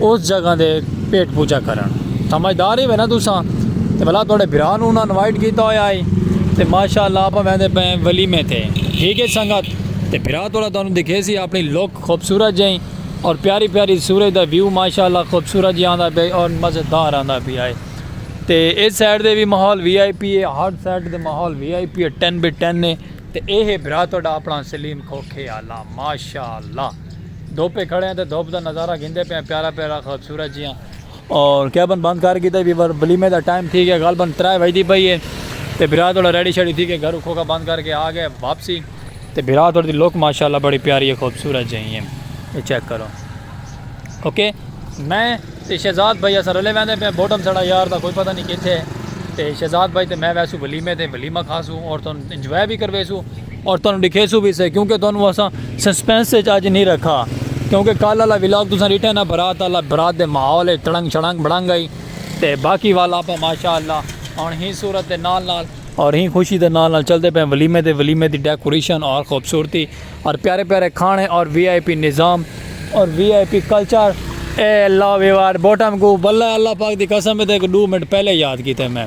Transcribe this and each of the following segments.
اس جگہ دے پیٹ پوجا کرن سمجھدار ہی ہوئے نا تساں تے بھلا تہاڈے بھرا نو انہاں انوائٹ کیتا ہویا ہے تے ماشاءاللہ آپاں ویندے پئے ہیں ولیمے تے ٹھیک ہے سنگت تے بھرا تہاڈا تانوں دکھے سی اپنی لک خوبصورت جئیں اور پیاری پیاری سورج دا ویو ماشاءاللہ خوبصورت جی آندا پیا ہے اور مزیدار آندا پیا ہے تے اس سائیڈ دے وی ماحول وی آئی پی ہے ہر سائیڈ دے ماحول وی آئی پی ہے ٹین بی ٹین ہے تے اے ہے بھرا تہاڈا اپنا سلیم کھوکھے آلا ماشاءاللہ دھوپے کھڑے ہیں تے دھوپ دا نظارہ گھندے پئے ہیں پیارا پیارا خوبصورت جیہاں۔ اور کیبن بند کر گھیتا جی پر ولیمے دا ٹائم تھی گیا غالبا ترے وجدی پئی ہے تے بھرا تھوڑا ریڈی شیڈی تھی کے گھروں کھوکا بند کر کے آ گئے واپسی۔ تے بھرا تھوڑی دی لک ماشاءاللہ بڑی پیاری ہے خوبصورت جیہی ہے یہ چیک کرو اوکے میں تے شہزاد بھائی اساں رلے ویندے پئے ہیں بوٹم ساڑا یار دا کوئی پتہ نہیں کتھے ہے تے شہزاد بھائی تے میں ویسوں ولیمے تے ولیمہ کھاسوں اور تہاڈوں انجوائے وی کرویسوں۔ اور تہانوں ڈکھیسوں وی سے کیونکہ تہانوں اساں سسپنس اچ اج نی رکھا کیونکہ کل آلا ولاگ تساں ڈٹھا نا برات آلا برات دے ماحول اچ تڑنگ شڑنگ بڑنگ ہئی تے باقی والا آپاں ماشاءاللہ ہن ہی صورت دے نال نال اور ہی خوشی دے نال نال چلدے پئے ولیمے دے ولیمے دی ڈیکوریشن اور خوبصورتی اور پیارے پیارے کھانے اور وی آئی پی نظام اور وی آئی پی کلچر اے لو یو آر بوٹم کو واللہ اللہ پاک دی قسم اے تے ڈو منٹ پہلے یاد کیتے میں۔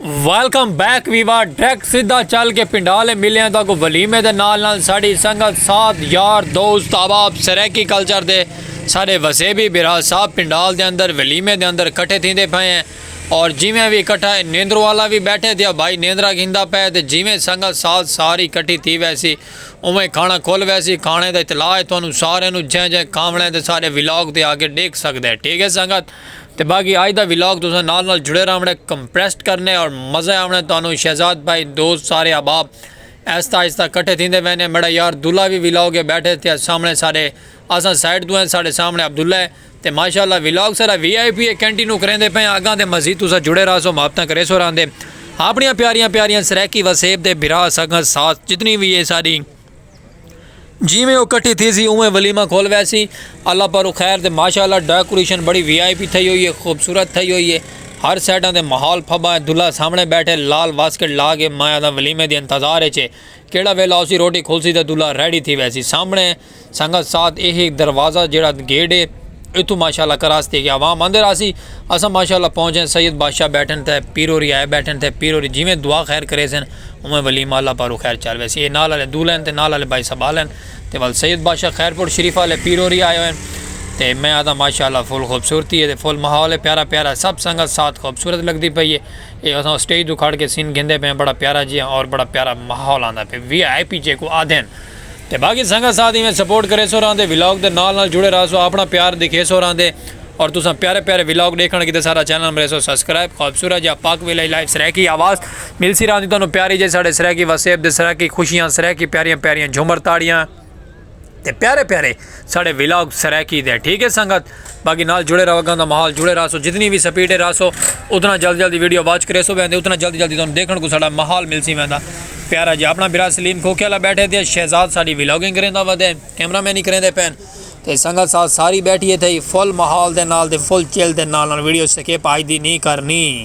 ویلکم بیک ویوا ڈریکٹ سیدھا چل کے پنڈالے ملے ہیں تو اگو ولیمے دے نال نال ساڑی سنگت ساتھ یار دوست آباب سریکی کلچر دے سارے وسے بھی برا صاحب پنڈال دے اندر ولیمے دے اندر کٹھے تھی دے پھائیں ہیں اور جیویں بھی کٹھا ہے نیندرو والا بھی بیٹھے دیا بھائی نیندرہ گھندہ پہ دے جیویں سنگت ساتھ ساری کٹھی تھی ویسی اوہیں کھانا کھول ویسی کھانے دے اطلاع ہے تو انہوں سارے انہوں جہاں جہاں کھامنے دے سارے ویلاگ دے آگے ڈیکھ سکتے ہیں ٹھیک ہے سنگت تے باقی آج دا ولاگ تساں نال نال جڑے راونڑے کمپریسڈ کرنے اور مزہ آونڑے تانوں شہزاد بھائی دوست سارے احباب ایستا ایستا کٹھے تھیندے وینے میڈا یار دلہ وی ولاگ اے بیٹھے تھیا سامنے سارے اساں سائیڈ توں ہیں ساڈے سامنے عبداللہ اے تے ماشاءاللہ ولاگ سارا وی آئی پی اے کینٹینو کریندے پئے آں اگاں تے مزید تساں جڑے راہسو محبتاں کریسو راہندے اپنیاں پیاریاں پیاریاں سرائیکی وسیب دے بھرا سگاں ساتھ جتنی وی اے ساڈی جیویں او کٹھی تھیسی اونویں ولیمہ کھل ویسی اللہ پر خیر تے ماشاءاللہ ڈیکوریشن بڑی وی آئی پی تھئی ہوئی ہے خوبصورت تھئی ہوئی ہے ہر سائیڈاں تے ماحول پھبا ہے دلہا سامنے بیٹھے لال واسکٹ لا کے میں آدھا ولیمے دی انتظار اچ ہے کیڑا ویلا ہوسی روٹی کھلسی تے دلہا ریڈی تھی ویسی سامنے سنگت ساتھ ایہی دروازہ جیڑا گیٹ ہے اتھوں ماشاءاللہ کراس تھی گیا عوام اندر آسی اساں ماشاءاللہ پہنچے سید بادشاہ بیٹھن تے پیرو ری آئے بیٹھن تے پیرو ری جیویں دعا خیر کریسن اوویں ولیم آلہ پاروں خیر چار ویسی اے نال آلے دولین تے نال آلے بھائی سبالین تے ول سید بادشاہ خیر پور شریفہ آلے پیرو ری آئے ہوئن تے میں آدھاں ماشاء اللہ فل خوبصورتی ہے تے فل ماحول ہے پیارا پیارا ہے سب سنگت ساتھ خوبصورت لگدی پئی ہے اے اساں اسٹیج توں کھڑ کے سین گھندے پئے ہیں بڑا پیارا جیاں اور بڑا پیارا ماحول آندا پئے وی آئی پی جیکوں آدھن۔ تے باقی سنگت ساتھ ایویں سپورٹ کریسو راہندے ولاگ دے نال نال جڑے راہسو آپنڑاں پیار دکھیسو راہندے اور تساں پیارے پیارے ولاگ ڈیکھنڑ کیتے ساڈا چینل مریسو سبسکرائب خوبصورت جیہا پاک ویلہ لائیو سرائیکی آواز ملسی راہندی تہانوں پیاری جیہی ساڈے سرائیکی واسیب دے سرائیکی خوشیاں سرائیکی پیاریاں پیاریاں جھومر تاڑیاں تے پیارے پیارے ساڑے ولاگ سرائیکی دے ٹھیک ہے سنگت باقی نال جڑے رہو گاں دا ماحول جڑے رہسو جتنی بھی سپیڈ ہے رہسو اتنا جلد جلدی ویڈیو واچ کرے سو ویندے اتنا جلد جلدی تانوں دیکھن کو ساڑا ماحول مل سی ویندا پیارا جی اپنا برا سلیم کھوکھے والا بیٹھے تے شہزاد ساڑی ولاگنگ کریندا ودے کیمرہ مین ہی کریندے پین تے سنگت ساتھ ساری بیٹھی ہے تھئی فل ماحول دے نال دے فل چل دے نال نال ویڈیو سکے پائی دی نہیں کرنی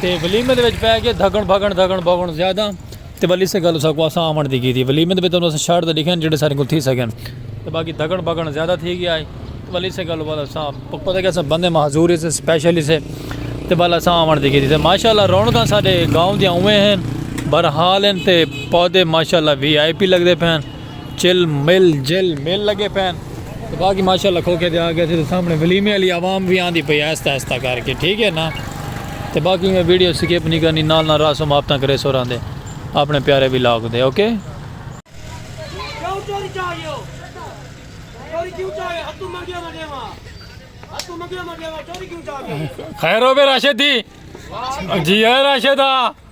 تے ولیمے دے وچ پے گئے دھگن بھگن دھگن بھگن زیادہ تے ولی سے گل اساکو اساں آون دی کیتی ولیمے دے وچ تانوں اساں شرط لکھے جیڑھے ساڈے کول تھی سکن تے باقی دھگن بھگن زیادہ تھی گیا ہے ولی سے گل بعد اساں پتہ لگے اساں بندے معذور سے سپیشل سے تے بعد اساں آون دی کیتی تے ماشاءاللہ رونقاں ساڈے گاؤں دیاں اوویں ہیں برحال ہیں تے پودے ماشاءاللہ وی آئی پی لگدے پئے ہیں چل مل جل مل لگے پین تو باقی ماشاءاللہ کھوکے دے آگے سے سامنے ولیمے علی عوام بھی آن دی پئی ایستا ایستا کر کے ٹھیک ہے نا تو باقی میں ویڈیو سکیپ نہیں کرنی نال نال راسو ماپتاں کرے سو رہن دے اپنے پیارے بھی لاگ دے اوکے خیر ہو بے راشد دی جی ہے راشدہ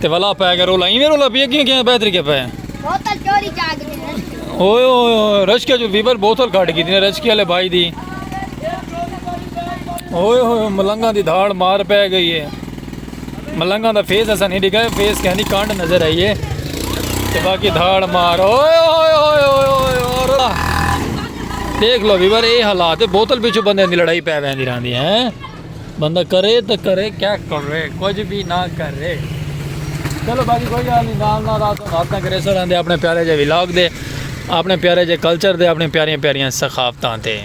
تے ولا پے گا رولا ایویں رولا پی کیوں کیوں بہتری کے پے بوتل چوری جا گئی اوئے اوئے رشکے جو ویور بوتل کھاڑ کی تھی رشکے والے بھائی دی اوئے اوئے ملنگا دی دھاڑ مار پے گئی ہے ملنگا دا فیس ایسا نہیں دکھا ہے فیس کہیں دی کانڈ نظر آئی ہے تے باقی دھاڑ مار اوئے اوئے اوئے اوئے اوئے دیکھ لو ویور اے حالات ہے بوتل پیچھو بندے دی لڑائی پے ویندی رہندی ہیں بندہ کرے تا کرے کیا کرے کچھ بھی نہ کرے چلو باقی کوئی گل نہیں نال نال رات رات نہ کرے سر آندے اپنے پیارے جے ولاگ دے اپنے پیارے جے کلچر دے اپنے پیاریاں پیاریاں ثقافتاں تے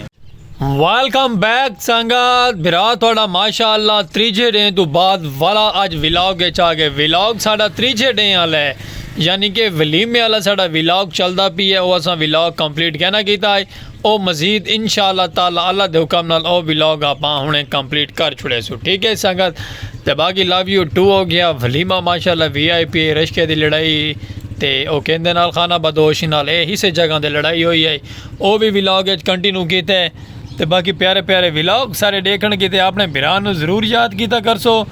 ویلکم بیک سنگت بھرا تھوڑا ماشاءاللہ تریجھے ڈے تو بعد والا اج ولاگ کے چاہ گئے ولاگ ساڑا تریجھے ڈے والا ہے یعنی کہ ولیمے والا ساڑا ولاگ چلدا پی ہے او اساں ولاگ کمپلیٹ کہنا کیتا ہے او مزید انشاء اللہ تعالی اللہ دے حکم نال او ولاگ آپاں ہنڑے کمپلیٹ کر چھڑے سو ٹھیک ہے سنگت تے باقی لو یو ٹو ہو گیا ولیمہ ماشاءاللہ وی آئی پی رشکے دی لڑائی تے او کیندے نال خانہ بدوش نال اے ہسے جگہ دے لڑائی ہوئی ہے او بھی ولاگ اچ کنٹینیو کیتے تے باقی پیارے پیارے ولاگ سارے ڈیکھن کیتے اپنے بھرا نو ضرور یاد کیتا کرسو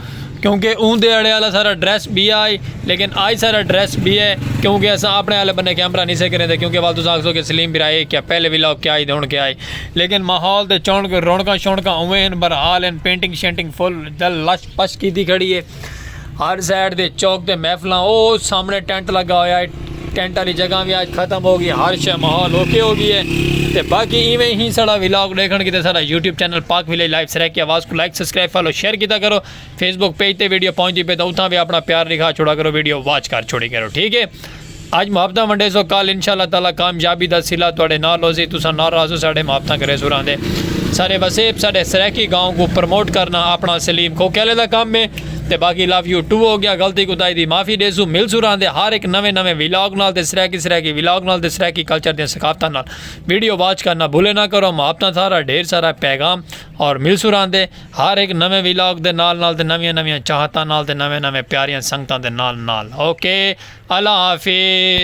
کیونکہ اوں دے اڑے آلا سارا ڈریس بی آ ہئی لیکن آج سارا ڈریس بی اے کیونکہ اساں اپنے آلے بنے کیمرہ نہیں سے کریں دے کیونکہ وال تساں آکھسو کہ سلیم بھرا اے کیا پہلے وی لاگ کیا ہئی دے ہن کیا ہئی لیکن ماحول تے چونک رونکاں شونکاں اوویں ہن برحال ہن پینٹنگ شینٹنگ فل دل لش پش کیتی کھڑی اے ہر سائیڈ تے چوک تے محفلاں او سامنے ٹینٹ لگا ہویا اے۔ ٹینٹ والی جگہ بھی آج ختم ہو گئی ہر شے ماحول اوکے ہو گئی ہے تے باقی ایویں ہی سارا ولاگ دیکھن کیتے سارا YouTube channel Pak village live سرے کی آواز کو لائک سبسکرائب فالو شیئر کیتا کرو فیس بک پیج تے ویڈیو پہنچ دی پے تو اتھاں بھی اپنا پیار لکھا چھوڑا کرو ویڈیو واچ کر چھوڑی کرو ٹھیک ہے اج محبتاں ونڈے سو کل انشاءاللہ تعالی کامیابی دا سلا تواڈے نال ہوسی تساں ناراض ہو ساڈے محبتاں کرے سو راندے سارے وسیب سارے سرے کی گاؤں کو پروموٹ کرنا اپنا سلیم کو کیلے دا کام میں تے باقی لو یو ٹو ہو گیا غلطی کوتاہی دی معافی ڈیسوں مل سوں راہندے ہر ہک نویں نویں ویلاگ نال تے سرائیکی سرائیکی ویلاگ نال تے سرائیکی کلچر دیاں ثقافتاں نال ویڈیو واچ کرنا بھولے نہ کرو محبتاں سارا ڈھیر سارا پیغام اور مل سوں راہندے ہر ہک نویں ویلاگ دے نال نال تے نویاں نویاں چاہتاں نال تے نویں نویں پیاریاں سنگتاں دے نال نال اوکے اللہ حافظ